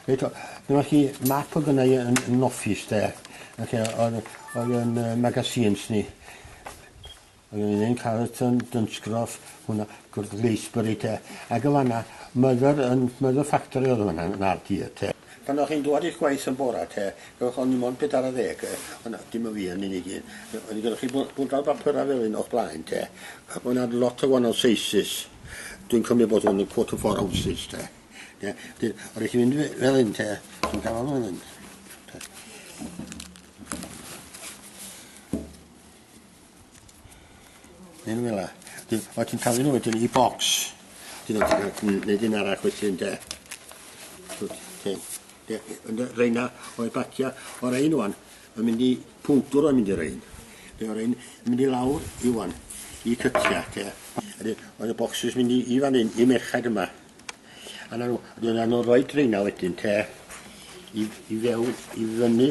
Reit, dyma chi map o gynnau yn, yn office de. Ac oedd, oedd yn uh, magazines ni. Oedd yn un Carlton, Dunsgroff, hwnna, Gwrdd Leisbury te. Ac o fanna, Mother, yn Mother Factory oedd hwnna yn RD te. Pan o'ch chi'n dwad i'ch gwaith yn bora te, gewch oni mond pedar a ddeg, ond dim o fi yn unig un, oni gynnoch chi bw- bwndal bapura fel un o'ch blaen te, ac ma' 'na lot o wanol seisys, dwi'n cymryd bod hwn yn quarter four ounces te, de, de, o rei chi fynd fe- fel un te, chi'n ca'l hwn fel un, te. Yn fel 'a. Dyn- o' ti'n taflu nhw wedyn i bocs. Ti'n neud ti'n ca'l n- neud un arall wedyn de. Twt, te. Ie ie ond yy reina oedd bacia o rein ŵan yn mynd i powdwr oedd mynd i rein. Be' o rein yn mynd i lawr i ŵan i cytia te. A de- oedd y bocsys mynd i i fan 'yn i merched yma. A 'na n'w a dyna n'w roid reina wedyn te i i fewn i fyny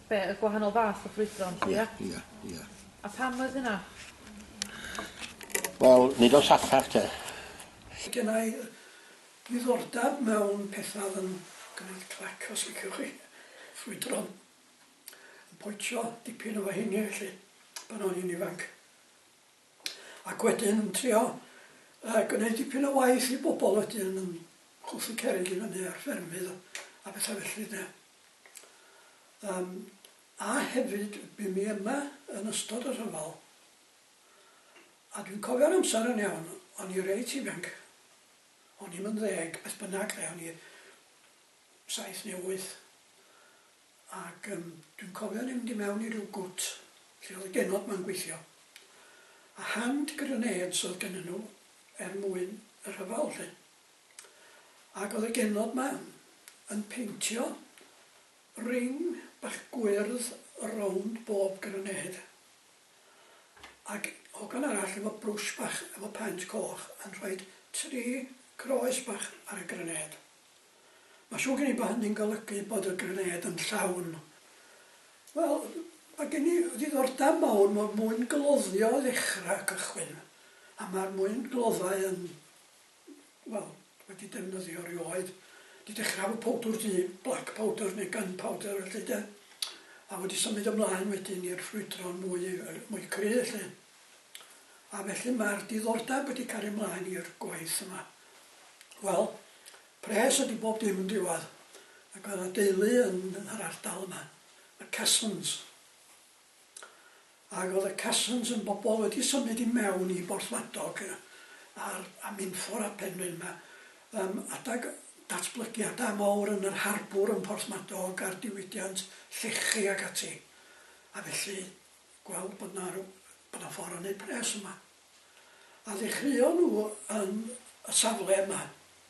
Be', y gwahanol fath o ffrwydron 'lly ia? Ia, ia, ia. A pam oedd hynna? Wel, nid o saffach te. Gynna i ddiddordab mewn petha oedd yn gwneud clac os liciwch chi, ffrwydron. Yn poetio dipyn efo heini felly pan o'n i'n ifanc. Ac wedyn yn trio yy gwneud dipyn o waith i bobl wedyn yn chwythu cerrig i fyny ar ffermydd a petha felly de. Yym, a hefyd, bu mi yma yn ystod y rhyfel, a dwi'n cofio'r amser yn iawn, o'n i reit ifanc, o'n i'm yn ddeg, beth bynnag de, o'n i saith neu wyth, ac yym dwi'n cofio mynd i mewn i ryw gwt lle oedd y genod ma'n gweithio, a hand grenades oedd gennyn nhw er mwyn y rhyfel 'lly. Ac oedd y genod 'ma yn peintio ring bach gwyrdd rownd bob grenêd, ac hogan arall efo brwsh bach efo paent coch yn rhoid tri groes bach ar y grenêd. Mae siŵr gen i bod hynny'n golygu bod y grenêd yn llawn. Wel, mae gen i ddiddordeb mawr mewn mwyn gloddio i ddechrau, cychwyn, a mae'r mwyn gloddau yn wel, wedi defnyddio rioed. Wedi dechra efo powdwr du, black powder neu gun powder felly 'de. A wedi symud ymlaen wedyn i'r ffrwydron mwy yy mwy cry' 'lly. A felly ma'r diddordeb wedi cario mlaen i'r gwaith yma. Wel, pres ydi bob dim yn diwadd. Ag o' 'na deulu yn yn yr ardal yma, y Cessons. Ac oedd y Cassons yn bobl wedi symud i mewn i Borthmadog a'r a Minffordd a Penrhyn 'ma yym adag datblygiada mawr yn yr harbwr yn Porthmadog a'r diwydiant llechi ac ati a felly gweld bod 'na rw- bod 'na ffor' o neud pres yma. A ddechreuon nhw yn y safle yma,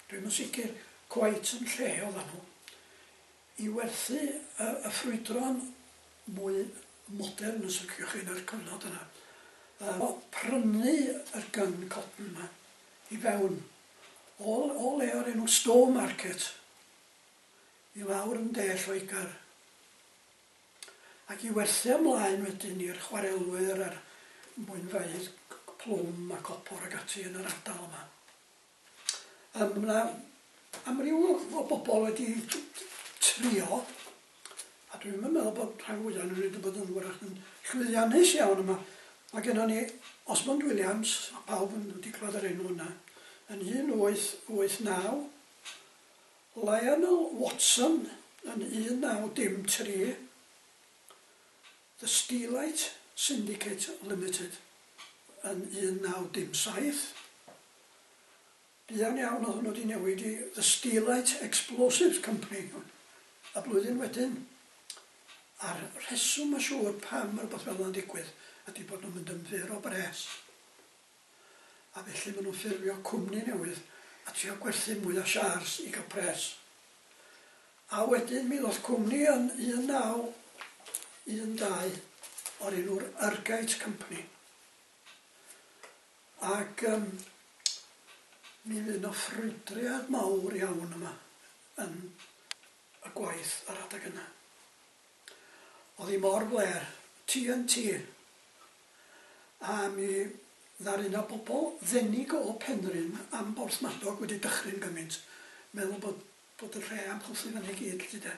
dwi'm yn sicr cweit yn lle oddan nhw, I werthu y ffrwydron mwy modern, os liciwch chi, yn yr cyfnod yna. Yy o, prynu yr gun cotton 'ma i fewn o o le o'r enw Stone Market i lawr yn De Lloegr ac i werthu o mlaen wedyn i'r chwarelwyr a'r mwynfaoedd plwm a copor ac ati yn yr ardal yma. Yym ma' 'na amryw o o bobol wedi t- t- trio a dwi'm yn meddwl bod rhan fwya o n'w wedi bod yn 'w'rach yn llwyddiannus iawn yma. Ma' gennon ni Osmond Williams, ma' pawb yn wedi clwad yr enw yna, yn un wyth wyth naw, Lionel Watson yn un naw dim tri, The Steelite Syndicate Limited yn 1907. Buan iawn oedd hwnnw wedi newid i The Steelite Explosives Company y blwyddyn wedyn. A'r rheswm mae'n siŵr pam mae rhywbeth fel yna'n digwydd ydy bod nhw'n mynd yn fyr o bres. a felly maen nhw'n ffurfio cwmni newydd a trio gwerthu mwy o siars i gael pres. A wedyn mi ddoth cwmni yn 1912 o'r enw'r Urgate Company. Ac um, mi fydd yna ffrwydriad mawr iawn yma yn y gwaith ar adeg yna. Oedd hi mor fler, TNT, a mi ddaru 'na bobl ddenig o Penrhyn am Borthmadog wedi dychryn gymint, meddwl bod bod y lle am chwythu fyny i gyd 'lly de.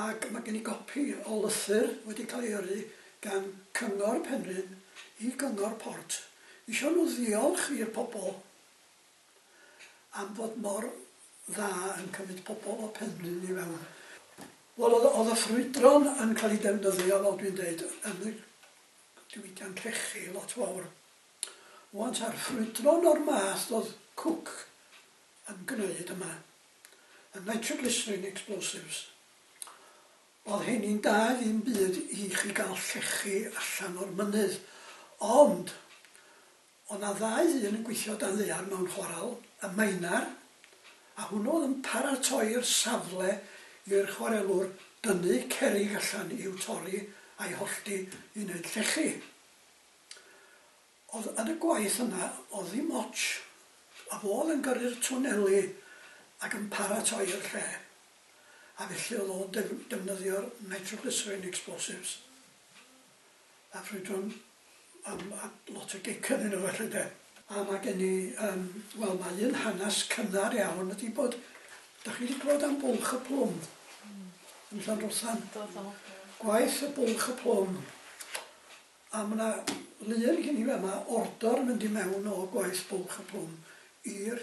Ac ma' gen i gopi o lythyr wedi cael ei yrru gan Cyngor Penrhyn i Gyngor Port isio nhw ddiolch i'r pobl am fod mor dda yn cymryd pobl o Penrhyn i fewn. Wel, oedd, oedd y ffrwydron yn cael ei defnyddio, fel dwi'n deud, yn y diwydiant llechi lot fawr. Rŵan ta'r ffrwydron o'r math oedd Cook yn gwneud yma, y nitroglycerin explosives, oedd heini'n da ddim byd i chi gael llechi allan o'r mynydd, ond Oedd 'na ddau ddyn yn gweithio dan ddaear mewn chwarel, y Maenner, a hwnnw oedd yn paratoi'r safle i'r chwarelwr dynnu cerrig allan i'w torri a'i hollti i wneud llechi. Oedd yn y gwaith yna oedd ddim otsh, a fo oedd yn gyrru'r twneli ac yn paratoi'r lle, a felly oedd o'n defnyddio'r nitroglycerine explosives. A ffrwydron am lot o gic ynddyn nhw felly de. A mae gen i yym wel mae un hanes cynnar iawn ydi bod, dach chi di clywed am Bwlch y Plwm yn Llanrwstan? Do do. Gwaith y Bwlch y Plwm a ma' na lun gin i fama ordor yn mynd i mewn o gwaith Bwlch y Plwm i'r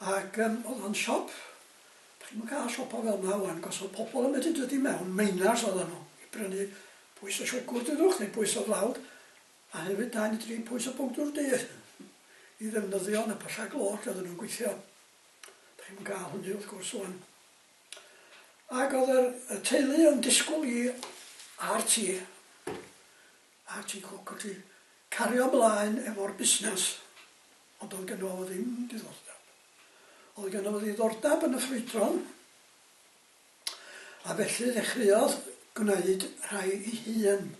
Ac yym o'dd o'n siop, dach chi'm yn ca'l siopa fel 'ma ŵan, cos o'dd pobol yn medru dod i mewn, miners oddan nhw, i brynu pwys o siwgwr dudwch, neu pwys o flawd, a hefyd dau neu dri pwys o bowdwr du, i ddefnyddio yn y pylla glo lle oddan nhw'n gweithio. Dach chi'm yn ca'l hynny wrth gwrs ŵan. Ac o'dd yr y teulu yn disgwl i RT. a ti'n cwc wt ti, cario mlaen efo'r busnes, ond doedd gynno fo ddim diddordeb. Oedd gynno fo ddiddordeb yn y ffrwydron, a felly ddechreuodd gwneud rhai i hun.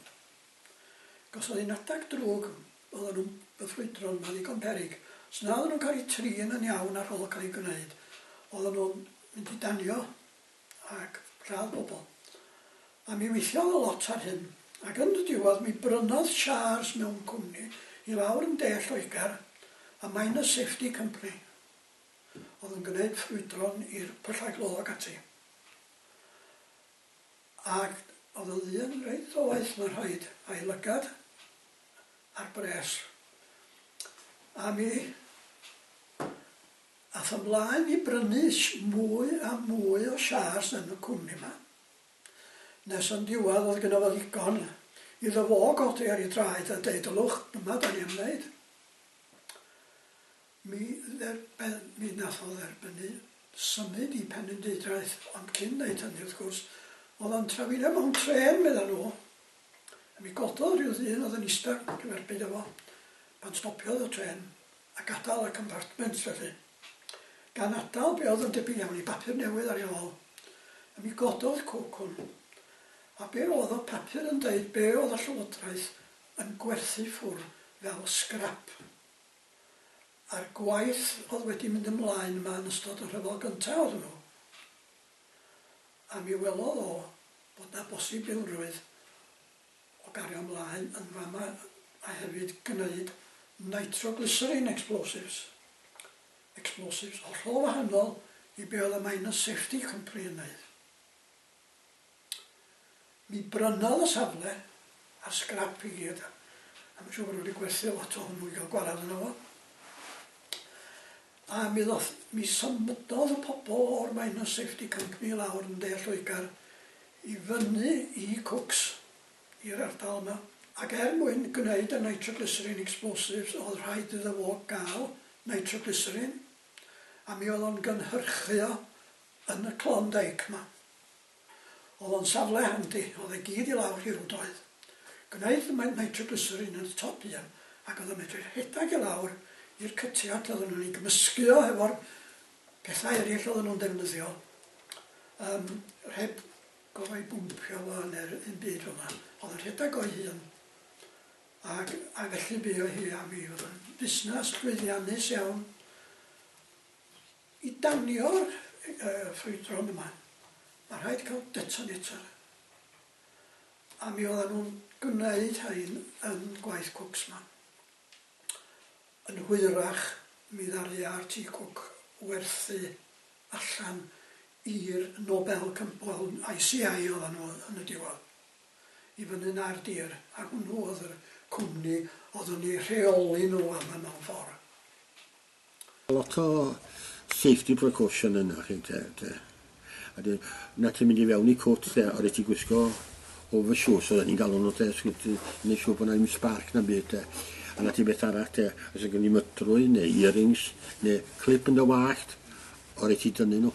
Gosodd hi'n adag drwg, oedden nhw'n y ffrwydron ma ddigon peryg, os na oedden nhw'n cael eu trin yn iawn ar ol cael eu gwneud, oedden nhw'n mynd i danio ac rhad bobl. A mi weithiodd o lot ar hyn, ac yn y diwedd mi brynodd Shars mewn cwmni i lawr yn de Lloegr, y Miners Safety Company, oedd yn gwneud ffrwydron i'r pyllau glo ac ati. Ac oedd yn ddyn reit ddoeth, mae'n rhaid, a'i lygad ar bres. A mi Aeth ymlaen i brynu mwy a mwy o shares yn y cwmni 'ma, nes yn diwadd oedd gynno fo ddigon iddo fo godi ar ei draed a deud 'Ylwch, dyma 'dan ni am neud'. Mi dderben- mi nath o dderbynnu symud i Penrhyndeudraeth, ond cyn neud hynny wrth gwrs, oedd o'n trafeilio mewn trên, medda nhw, a mi gododd ryw ddyn oedd yn ista cyferbyn â fo pan stopiodd y trên. a gadael y compartment felly, gan atal be oedd yn debyg iawn i bapur newydd ar ei ôl, a mi gododd cwcwn, a be oedd y papur yn deud be oedd y Llywodraeth yn gwerthu ffwr fel sgrap. A'r gwaith oedd wedi mynd ymlaen yma yn ystod y rhyfel gyntaf oedd hwnnw, a mi welodd o bod na bosibilrwydd o gario mlaen yn fama a hefyd gneud nitroglycerine explosives, explosives hollol wahanol i be oedd y Miners Safety Company yn wneud. Mi brynodd y safle a'r sgrap i gyd, a mae'n siŵr bod nhw wedi gwerthu lot o hwnnw i gael gwarad yna fo. A mi, ddoth, mi symydodd y pobl o'r Miners Safety Company lawr yn De Lloegr i fyny i Cooks, i'r ardal yma, ac er mwyn gwneud y nitroglycerin explosives oedd rhaid iddo fo gael nitroglycerin, a mi oedd o'n gynhyrchu o yn y Klondike 'ma. Oedd o'n safle handi, oedd e gyd i lawr hirwdoedd. Gwneud y nitroglycerin yn y top un, ac oedd o'n medru rhedeg i lawr i'r cytiad, oedden nhw'n ei gymysgu o hefo'r Pethau eraill oedden nhw'n defnyddio, yym, rhed- gofai bwmpio fo neu'r un byd fel 'na, o'dd yn rhedag o'i hun, ag a felly bu o hi a mi. O'dd o'n fusnas llwyddiannus iawn i danio'r yy yy ffrwydron yma. Ma' rhaid cael detonator. A mi o'ddan nhw'n gwneud rhain yn gwaith Cwcsman. Yn hwyrach, mi ddaru Artie Cook werthu allan i'r Nobel Compol, ICI oeddan nhw yn y diwedd, i fyny na'r dir, a hwnnw oedd yr cwmni oedd yn eu rheoli nhw am y mewn ffordd. Lot o safety precaution yna chi te te. A de, na ti'n mynd i fewn i cwt te, a rhaid ti gwisgo over shoes oedden ni'n galw nhw te, sgwt i wneud siŵr bod na ddim spark na byd te. A na ti beth arall te, os ydyn ni'n mytrwy neu earrings neu clip yn dy wallt, o rhaid ti dynnu nhw.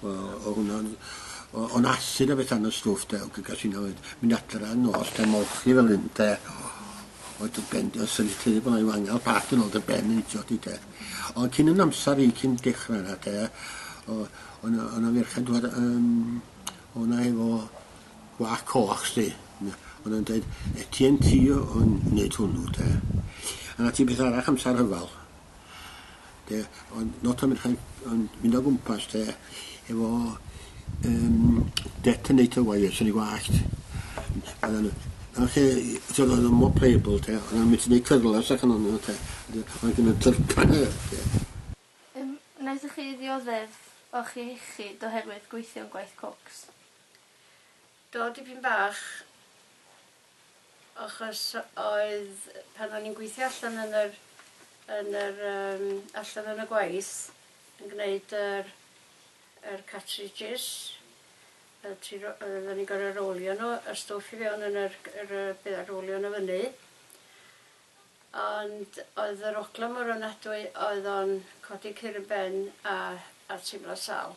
O o hwnna o'n i o o'n asid a betha yn y stwff de ag gas inna oedd mynd adra yn nos de molchi fel hyn de oedd dy ben dy syllu teulu bod a'i wangal pat yn ôl dy ben yn idio di de ond cyn yn amser i cyn dechrau yna de o o'n o'n ferched dwad yn o'na efo gwa coch sti o'n o'n dweud etien ti o'n neud hwnnw de a na ti beth arall amser hyfal De, ond not am rhaid ond mynd o gwmpas de efo um, detonator wire sy'n ei gwallt. Oedden nhw, lle, oedd o'n mor playable te, oedden nhw'n mynd i wneud cyrlas ac yn o'n nhw te, oedd gen nhw'n tyrpan e. Um, wnaethoch chi ddioddef o'ch iechyd oherwydd gweithio'n gwaith cocs? Do dipyn bach achos oedd pan o'n i'n gweithio allan yn yr yn yr yym allan yn y gwaith yn gneud yr yr cartridges y tri ro- yy oddan ni'n gor'o' rowlio n'w y stwff i fewn yn yr c- yr yy be' a rowlio n'w fyny ond oedd yr ogla mor ofnadwy oedd o'n codi cur yn ben a a teimlo sal.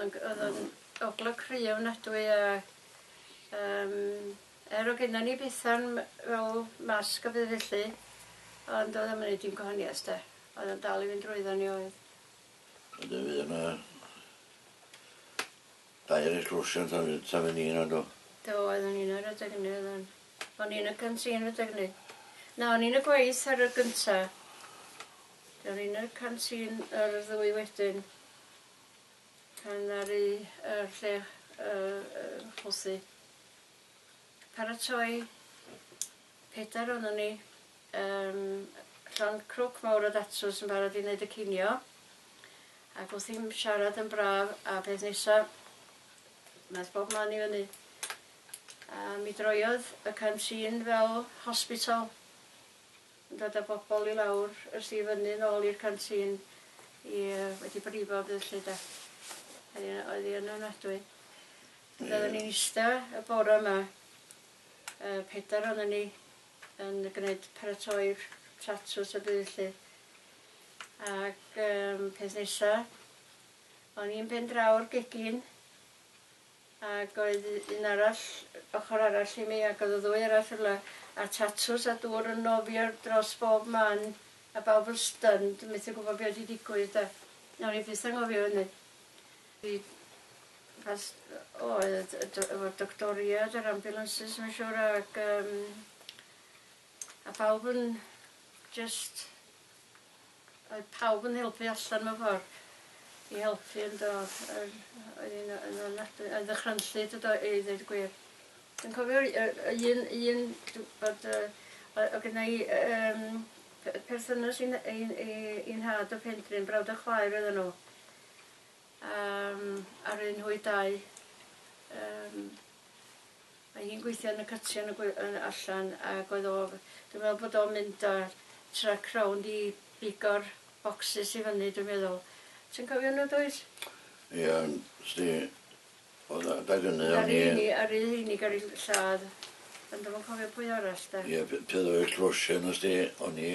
Ag o'dd o'n ogla cry ofnadwy a yym er o' gennon ni betha'n m- fel masg a peth felly ond o'dd o'm yn neud dim gwahanieth 'sti. O'dd o'n dal i fynd drwyddo ni oedd. Wedyn mi o' 'na dair eglwsiant a wedyn ta fen i yna do? Do oedd o'n un ar adeg ynny oedd o'n. O'n i yn y canteen adeg ynny. Na o'n i yn y gwaith ar y gynta. O'n i yn y canteen ar y ddwy wedyn. Pan ddaru y lle chwysu. Paratoi pedair onon ni yym llond crwc mawr o datws yn barod i neud y cinio ac wrth i'm siarad yn braf a peth nesa nath bob man i fyny a mi droiodd y canteen fel hospital. yn dod â bobl i lawr ers i fyny nôl i'r canteen i yy wedi brifo dydd Llun de. Oedd hi oedd hi yn ofnadwy. Ond oedden ni'n ista y bore yma y pedair oedden ni yn gwneud paratoi'r tatws y byd lly. Ac yym peth nesa o'n i'n ben draw'r gegin Ac oedd un arall ochr arall i mi, ac oedd y ddwy arall rywle, a tatws a dŵr yn nofio dros bob man, a bawb yn stunned, methu gwybod be oedd wedi digwydd 'de. Nawn ni byth anghofio hynny. Fi pas- o, oedd y do- efo'r doctoriaid a'r ambulances mae'n siŵr ac yym a phawb yn jyst Oedd pawb yn helpu allan mewn ffordd i helpu yn do? Yr oedd hi'n yy yn ofnadwy yn ddychrynllyd y do- i ddeud y gwir. Dwi'n cofio y y y un un dw- bod yy o- o' gynna i yy yym pe- perthynas i'n i'n i i'n nhad o Penrhyn, brawd a chwaer oedden nhw. A yym aru nhw 'u dau yym Mae hi'n gweithio yn y cytiau yn y gwe- yn allan ag oedd o f- dwi'n meddwl bod o'n mynd â truck rownd i bigo'r bocsys i fyny dwi'n meddwl. Ti'n cofio hwnnw dwyt? Ia ond sdi o'dd yy adeg ynny o'n i... Aru ni aru ni gyrru ll- lladd ond dwi'm yn cofio pwy arall 'de. Ia p- pan o'dd y closio yno sdi o'n i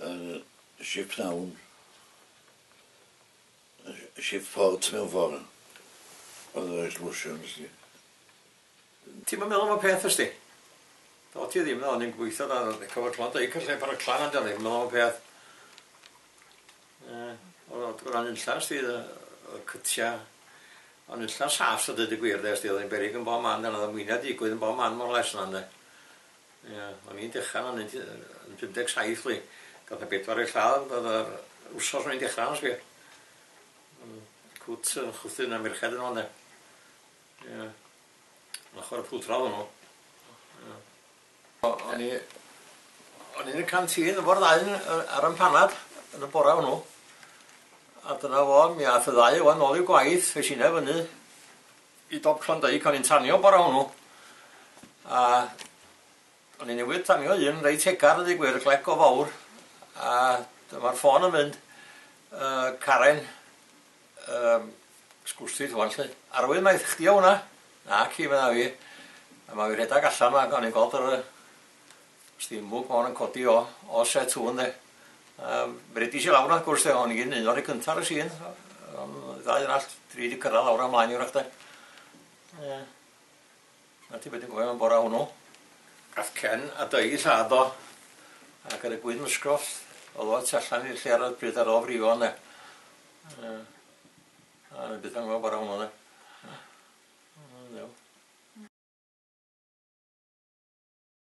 yn shiptown. Shift fault mewn ffor. Ond yr oes lwsio nes di. Ti'm yn meddwl am y peth wyst ti? Do ti ddim, o'n i'n gweithio da ar cover clan dau cyn lle pan y clan amdano ddim yn meddwl am y peth. Ie, oedd gwran unlla sti y cytia. Ond unlla saff sa dweud y gwir de, sti oedd yn berig yn bob man, yna oedd y mwyna digwydd yn bob man mor les yna ynde. Ia, o'n i'n dechra fan 'yn yy yn pum deg saith wi gath y pedwar eu lladd o'dd yr wsos o'n i'n dechra arno sbia. Hmm cwt yy chwythu un o'r merched yno ynde? Ia. Yn ochor y pwll draw hwnnw. Ia. O- o'n i o'n i yn y canteen efo'r ddau yn yy ar 'yn panad yn y bora hwnnw a dyna fo mi ath y ddau o 'wan nôl i'w gwaith es inne fyny I dop Klondike o'n i'n tanio bore hwnnw a o'n i newydd tanio un reit hegar a ddeud gwir, glec go fawr a dyma'r ffôn yn mynd, yy Karen yym sgwrstit ŵan 'lly. Arwydd mai chdi o' hwnna? Naci medda fi a ma' fi rhedag allan 'ma ac o'n i'n gweld yr yy Sdim bwc ma hon yn codi o o set hwn de. Yym bredis i lawr wrth gwrs de hon i gyd yn un o'r rhei cynta ar y sîn yym ddau arall dri di cyrradd lawr a mlaen i wrach de. Ie. Na ti be dwi'n cofio am bora hwnnw. Gath Ken a Dei i lladd o ac ar y gwyn mysgoth o'dd o tu allan i'r lle ar y pryd ar ôl frifo ynde. Ie. A o'n i byth yn gwbo bora hwnnw de. O Dduw.